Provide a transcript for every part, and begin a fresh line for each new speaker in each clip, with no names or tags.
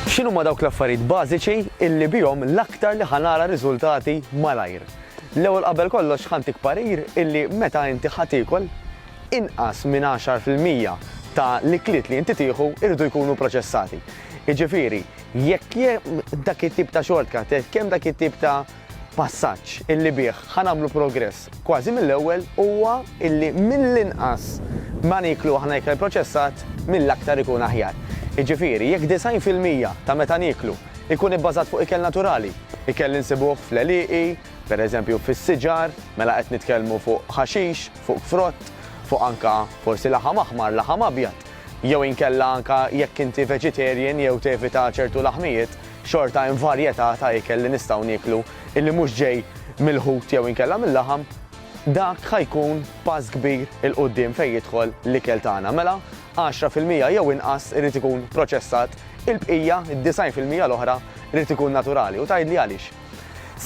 X'inhuma dawk l-affarijiet bażiċi illi bihom l-aktar li ħa nara riżultati malajr? L-ewwel qabel kollox ħa ntik parir illi meta inti ħa tiekol, inqas minn għaxar fil-mija ta' l-ikliet li inti tieħu jridu jkunu proċessati. Jiġifieri, jekk hemm dak it-tip ta' shortcut, jekk hemm dak it-tip ta' Passaġġ illi bih ħa nagħmlu progress kważi mill-ewwel huwa illi mill-inqas ma nieklu aħna ikel proċessat mill-aktar ikun aħjar. Jiġifieri jekk 90 fil-mija ta' meta nieklu jkun ibbażat fuq ikel naturali, ikel li nsibuh fl-għelieqi, per eżempju fis-siġar, mela qed nitkellmu fuq ħaxix, fuq frott, fuq anke forsi laħam aħmar, laħam abjad, jew inkella anke jekk inti vegetarian jew tevita ċertu laħmijiet, Xorta hemm varjetà ta' ikel li nistgħu nieklu illi mhux ġej mill-ħut jew inkella mil-laħam, dak ħa jkun pass kbir 'il quddiem fejn jidħol l-ikel tagħna. Mela, għaxra fil-mija jew inqas irid ikun proċessat, il-bqija, id-disgħin fil-mija l-oħra, irid ikun naturali. U tgħidli għaliex?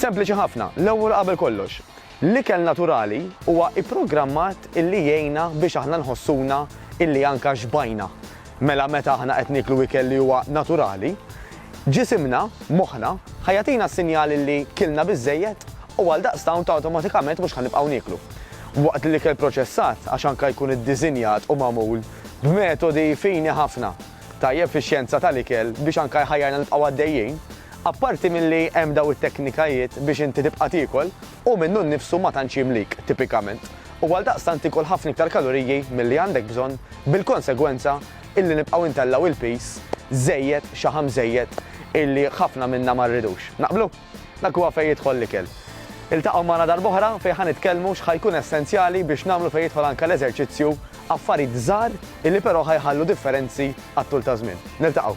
Sempliċi ħafna, l-ewwel u qabel kollox, L-ikel naturali huwa ipprogrammat illi jgħinna biex aħna nħossuna illi anka xbajna. Mela meta aħna qed nieklu ikel li huwa naturali, ġisimna, moħħna, ħa jagħtina s-sinjal illi kilna biżżejjed u għaldaqstant awtomatikament mhux ħa nibqgħu nieklu. Waqt li l-ikel proċessat, għax anka jkun iddisinjat u magħmul b'metodi fini ħafna, tajjeb fix-xjenza tal-ikel biex anke jħajjarna nibqgħu għaddejjin, apparti milli hemm dawn it-teknikajiet biex inti tibqa' tiekol, hu minnu nnifsu ma tantx jimlik, tipikament, u għaldaqstant ikol ħafna iktar kaloriji milli għandek bżonn, bil-konsegwenza illi nibqgħu intellgħu il-piż żejjed, xaħam żejjed illi ħafna minna ma rridux. Naqblu? Dak huwa fejn jidħol l-ikel. Iltaqgħu magħna darb'oħra fejn ħa nitkellmu x'ħa jkun essenzjali biex nagħmlu fejn jidħol anke l-eżerċizzju Affarit żgħar illi però ħa jħallu differenzi għat-tul taż-żmien. Niltaqgħu.